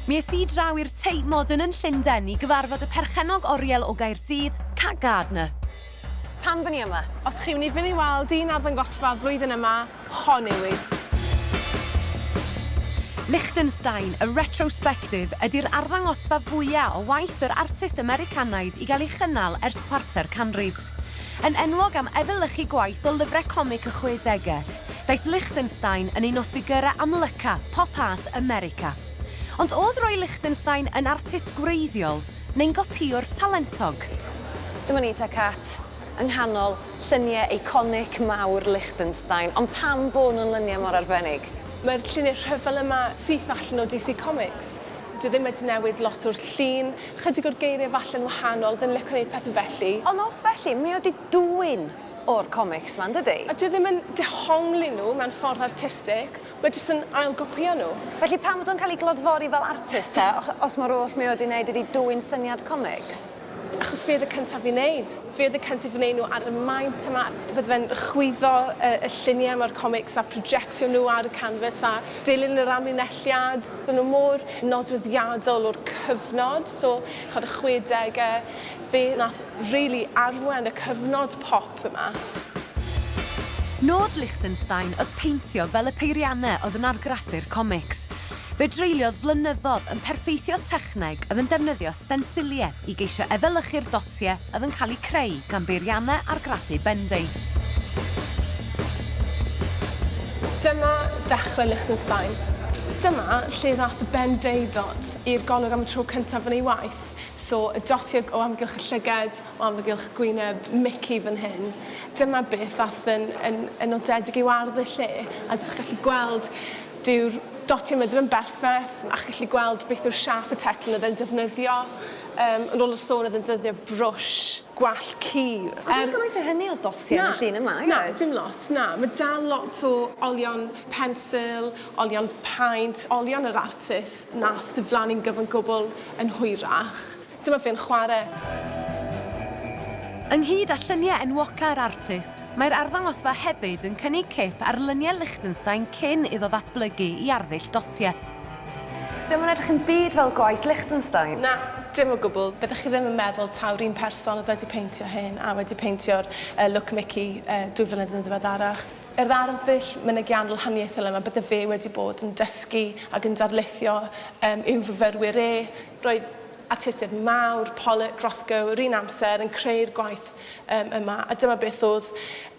Mi es i draw i'r Tate Modern yn Llundain i gyfarfod y perchennog oriel o Gaerdydd, Kat Gardner. Pam dyn ni yma? Os chi wedi fyn i weld un arddangosfa flwyddyn yma, hon yw hi. Lichtenstein, A Retrospective ydi'r arddangosfa fwya' o waith yr artist Americanaidd i gael ei chynnal ers chwarter canrif. Yn enwog am efelychu gwaith o lyfrau comic y chwedegau, daeth Lichtenstein yn un o ffigyrau amlyca pop art America. Ond oedd Roy Lichtenstein yn artist gwreiddiol neu'n gopïwr talentog? Dyma ni te Cat, yng nghanol lluniau eiconic mawr Lichtenstein, ond pam bo nhw'n luniau mor arbennig? Mae'r lluniau rhyfel yma syth allan o DC Comics, Dwi ddim wedi newid lot o'r llun, chydig o'r geiriau falle'n wahanol, fi'n lico neud pethe felly. Ond os felly, mae o 'di dwyn o'r comics 'ma, yndydi? A dwi ddim yn dehongli nhw mewn ffordd artistig, mae jyst yn ailgopïo nhw. Felly pam fod o'n cael ei glodfori fel artist te, os mae'r oll mae o 'di neud ydi dwyn syniad comics? Achos fi oedd y cyntaf i wneud. Fi oedd y cyntaf i wneud nhw ar y maint yma. Bydde fe'n chwyddo y, y lluniau yma o'r comics a projectio nhw ar y canfas a dilyn yr amlinelliad. Dyn nhw mor nodweddiadol o'r cyfnod, so chimod y chwedegau, fe wnaeth rili arwain y cyfnod pop. Dw yma. Nod Lichtenstein oedd peintio fel y peiriannau oedd yn argraffu'r comics. Fe dreuliodd flynyddoedd yn perffeithio techneg oedd yn defnyddio stensiliau i geisio efelychu'r dotiau oedd yn cael eu creu gan beiriannau argraffu bendith. Dyma ddechrau Lichtenstein. Dyma lle ddaeth y Ben-Day dot i'r golwg am y tro cyntaf yn ei waith, so y dotiau o amgylch y llygad, O amgylch gwyneb Mici fan hyn. Dyma beth aeth yn, yn, yn nodedig i'w ardd y lle, a dych chi'n gallu gweld, dyw'r dotiau yma ddim yn berffaith, a chi'n gallu gweld beth yw'r siâp y teclyn oedd e'n defnyddio. Um, yn ôl y sôn oedd e'n dyddio brwsh gwallt cul. Ond er... ddim gymaint o hynny o dotiau yn y llun yma, nag oes? Na, dim lot, na. Mae dal lot o olion pensil, olion paent, olion yr artist nath ddiflannu'n gyfan gwbl yn hwyrach. Dyma fi'n chwarae! Ynghyd â lluniau enwocau'r artist, mae'r arddangosfa hefyd yn cynnig cip ar luniau Lichtenstein cyn iddo ddatblygu i arddull dotiau. Dio'm yn edrych yn byd fel gwaith Lichtenstein. Na, dim o gwbl. Byddech chi ddim yn meddwl taw'r un person oedd wedi peintio hyn a wedi peintio'r Look Mickey dwy flynedd yn ddiweddarach. Yr arddull mynegiannol haniaethol yma bydde fe wedi bod yn dysgu ac yn darlithio yw fyfyrwyr e, Roedd artistiaid mawr, Pollock, Rothko, yr un amser, yn creu'r gwaith um, yma, a dyma beth oedd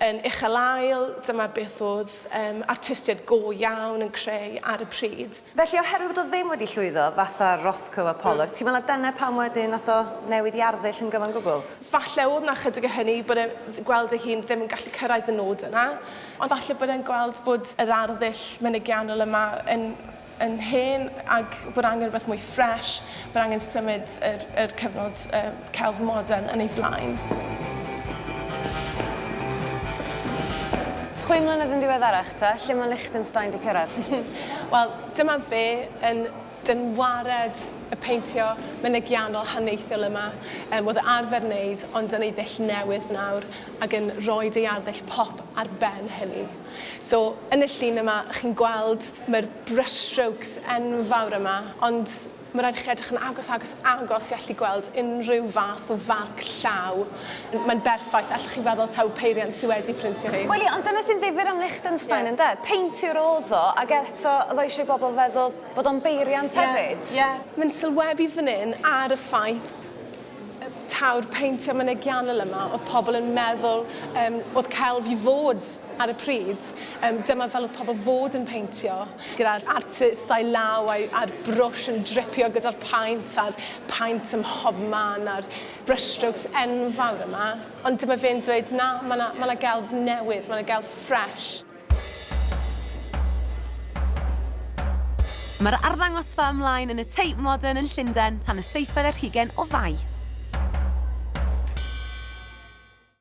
yn uchel ael, dyma beth oedd um, artistiaid go iawn yn creu ar y pryd. Felly, oherwydd bod o ddim wedi llwyddo, fatha Rothko a Pollock, mm. ti'n meddwl dyna pam wedyn nath o newid i arddull yn gyfan gwbl? Falle oedd na chydig o hynny, bod e gweld ei hun ddim yn gallu cyrraedd y nod yna, ond falle bod e'n gweld bod yr arddull mynegiannol yma yn yn hen ac bod angen rhywbeth mwy ffresh, bod angen symud yr, yr cyfnod uh, celf modern yn ei flaen. Chwe mlynedd yn ddiweddarach ta, lle mae Liechtenstein di cyrraedd? Wel, dyma fe yn dynwared y peintio mynegiannol haneithiol yma. Um, oedd arfer wneud, ond yn ei ddull newydd nawr, ac yn rhoi ei arddull pop ar ben hynny. So, yn y llun yma, chi'n gweld mae'r brushstrokes enfawr yma, ond mae'n rhaid i chi edrych yn agos, agos, agos i allu gweld unrhyw fath o farc llaw. Mae'n berffaith, allwch chi feddwl taw peiriant sydd wedi printio hi. Wel ie, ond dyna sy'n ddifyr am Lichtenstein, yn de? Peintiwr oedd o, ac eto oedd o eisiau i bobl feddwl bod o'n beiriant hefyd. Ie, ie. Mae'n sylwebu fan hyn ar y ffaith taw'r peintio mynegiannol yma, oedd pobl yn meddwl um, oedd celf i fod ar y pryd, um, dyma fel oedd pobl fod yn peintio, gyda'r artist a'i law a'i, a'r brwsh yn dripio gyda'r paint a'r paint ym mhob man a'r brushstrokes enfawr yma. Ond dyma fe'n dweud, na, mae yna ma gelf newydd, mae yna gelf ffres. Mae'r arddangosfa ymlaen yn y Tate Modern yn Llundain tan y seithfed ar hugain o Fai.